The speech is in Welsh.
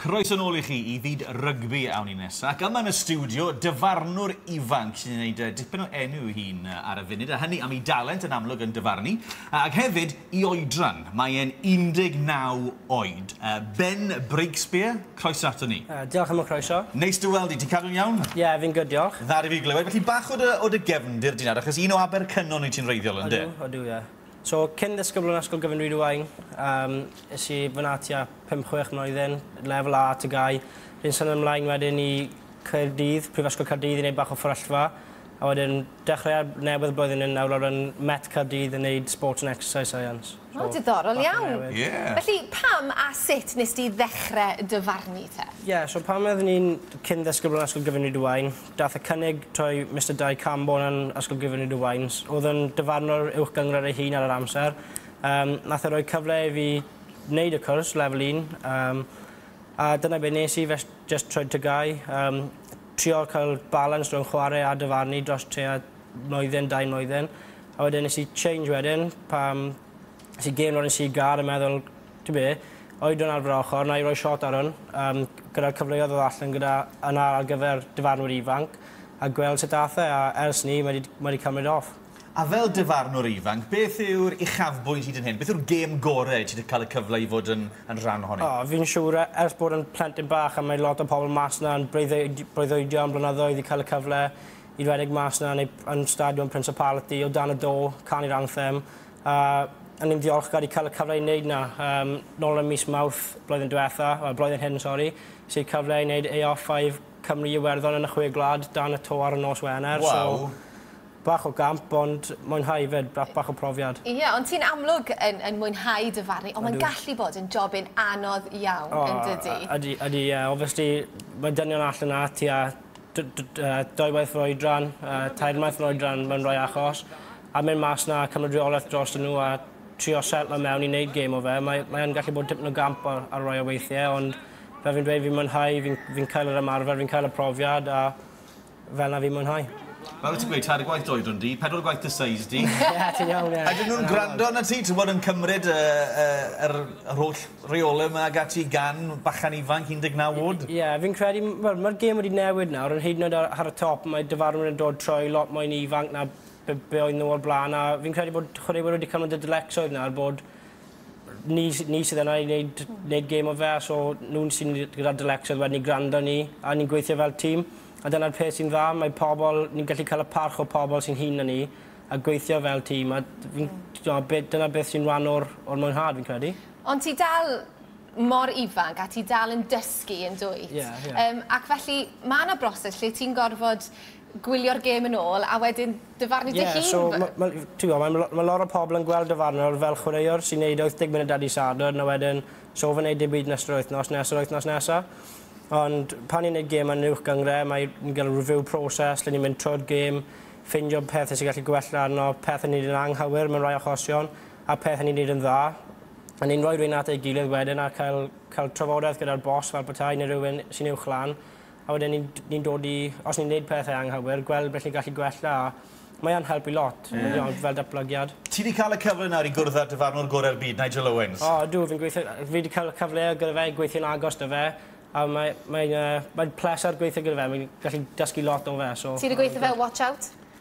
Croeso nôl i chi i fyd rygbi awn ni nesa, ac yma yn y stiwdio, dyfarnwr ifanc sy'n gwneud uh, dipyn o enw i hun uh, ar y funud, a hynny am ei dalent yn amlwg yn dyfarnu, uh, ac hefyd i oedran. Mae e'n 19 oed. Uh, ben Breakspear, croeso ato ni. Uh, diolch am y croeso. Neis dy weld i, ti'n cadw'n iawn? Ie, yeah, fi'n gyd, diolch. Dda i fi glywed, felly bach o dy, o dy gefndir di'n achos un o Abercynon i ti'n reiddiol, ynddo? Odw, odw, ie. Yeah. So, cyn ddisgybl yn Ysgol Gyfun Rhyd-y-waun, yym, es i fan'na tua pump, chwech mlwyddyn, lefel A, TGAU. Fi'n symud ymlaen wedyn i Caerdydd, Prifysgol Caerdydd i neud bach o fferyllfa, a wedyn dechreuad newydd y blwyddyn hyn nawr nawr yn Met Caerdydd yn neud Sports and Exercise Science. So, O, diddorol bach o iawn. newid. Ie. Felly, pam a sut nes di ddechre dy farnu te? Ie, so pan oeddwn i'n cyn ddisgybl yn Ysgol Gyfun Rhyd-y-waun, Daeth y cynnig trwy Mister Dai Cambone yn Ysgol Gyfuned y Wains. Oedd yn dyfarnwr uwch gynghrair ei hun ar yr amser. Um, nath e roi cyfle i fi wneud y cwrs, level 1. Um, a dyna beth nes i, fe just trwy tygau. Um, trio cael balans rhwng chwarae a dyfarnu dros trea mlwyddyn, dau mlwyddyn. A wedyn nes i change wedyn, pam Nes i deimlo nes i gar a meddwl ta be, oedran ar fy ochr, wna i roi shot ar hwn, yym, gyda'r cyfleoedd oedd allan gyda yna ar gyfer dyfarnwr ifanc, a gweld sut ath e, a ers 'ny, mae 'di, mae 'di cymryd off. A fel dyfarnwr ifanc, beth yw'r uchafbwynt hyd yn hyn? Beth yw'r gêm gore i ti 'di cael y cyfle i fod yn, yn rhan ohoni? O, fi'n siŵr, e- ers bod yn plentyn bach, a mae lot o pobl mas 'na yn breuddwyd- breuddwydio am blynyddoedd i cael y cyfle i redeg mas 'na neu yn Stadiwm Principality, o dan y do, canu'r anthem, A o'n i'n ddiolchgar i cael y cyfle i wneud 'na. Yym, nôl ym mis Mawrth blwyddyn diwetha', wel, blwyddyn hyn, sori, ges i'r cyfle i wneud AO 5 Cymru Iwerddon yn y Chwe Gwlad dan y to ar y nos Wener. Waw! So, bach o gamp, ond mwynhau 'fyd, ba- bach o profiad. Ie, ond ti'n amlwg yn yn mwynhau dy farn 'ny, ond mae'n gallu bod yn jobyn anodd iawn, yn dydi? O, ydy, ydy, ie. Obviously, mae dynion allan 'na tua d- d- yy dwy waith yr oedran, yy tair maith yr oedran mewn rhai achos. a mynd mas 'na a cymryd reolaeth drostyn nhw a trio setlo mewn i wneud gêm o fe. Mae, mae yn gallu bod tipyn o gamp ar, ar rai o weithiau, ond fel fi'n dweud, fi'n mwynhau, fi'n fi cael yr ymarfer, fi'n cael y profiad a fel na fi'n mwynhau. Fel wyt ti'n gweud, tair gwaith doedron di, pedwar gwaith dy size di. Ie, ti'n iawn, ie. Ydyn nhw'n gwrando na ti, ti'n bod yn cymryd y, y, yr, yr holl reolau yma ag ati gan bachan ifanc 19 oed? Ie, fi'n credu, wel, mae'r gêm wedi newid nawr, yn hyd yn oed ar, ar y top, mae dyfarnwr yn dod trwy lot mwy ifanc na be, be oedd nhw o'r blaen a fi'n credu bod chwaraewyr wedi cymryd y dylecsoedd yna a'r bod ni, ni sydd yna i wneud, wneud gêm o fe a so nhw'n sy'n gyda'r dylecsoedd wedyn ni gwrando ni a ni'n gweithio fel tîm a dyna'r peth sy'n dda, mae pobl, ni'n gallu cael y parch o pobl sy'n hŷn na ni a gweithio fel tîm a fi'n, mm. dyna beth sy'n rhan o'r, or mwynhad fi'n credu. Ond ti dal mor ifanc a ti dal yn dysgu yn dwyt. Yeah, yeah. Um, ac felly mae yna broses lle ti'n gorfod gwylio'r gêm yn ôl a wedyn dyfarnu dy hun? Ie, so ma' ma' ti'n gwybod, mae ma' lot o pobl yn gweld dyfarnwr fel chwaraewr sy'n neud 80 munud ar dydd Sadwrn a wedyn so fe'n neud dim byd nes yr wythnos nes yr wythnos nesa. Ond pan ni'n neud gêm yn Uwch Gyngre mae ni'n gael review process lle ni'n mynd trwy'r gêm, ffeindio pethe sy'n gallu gwella arno, pethe ni'n neud yn anghywir mewn rhai achosion a pethe ni'n neud yn dda. A ni'n rhoi rhein at ei gilydd wedyn a cael cael trafodaeth gyda'r boss fel petai neu rhywun sy'n uwch lan a wedyn ni'n ni'n dod i... Os ni'n neud pethe anghywir gweld beth ni'n gallu gwella a mae yn helpu lot. Ie. Ie ond fel datblygiad. Ti 'di ca'l y cyfle nawr i gwrdd â'r dyfarnwr gore'r byd, Nigel Owens. O ydw fi'n gweithio yy fi 'di ca'l y cyfle gyda fe i gweithio'n agos 'da fe a mae mae'n yy mae'n pleser gweithio gyda fe mae'n gallu dysgu lot o fe so... Ti 'di gweitho fe o Watch Out?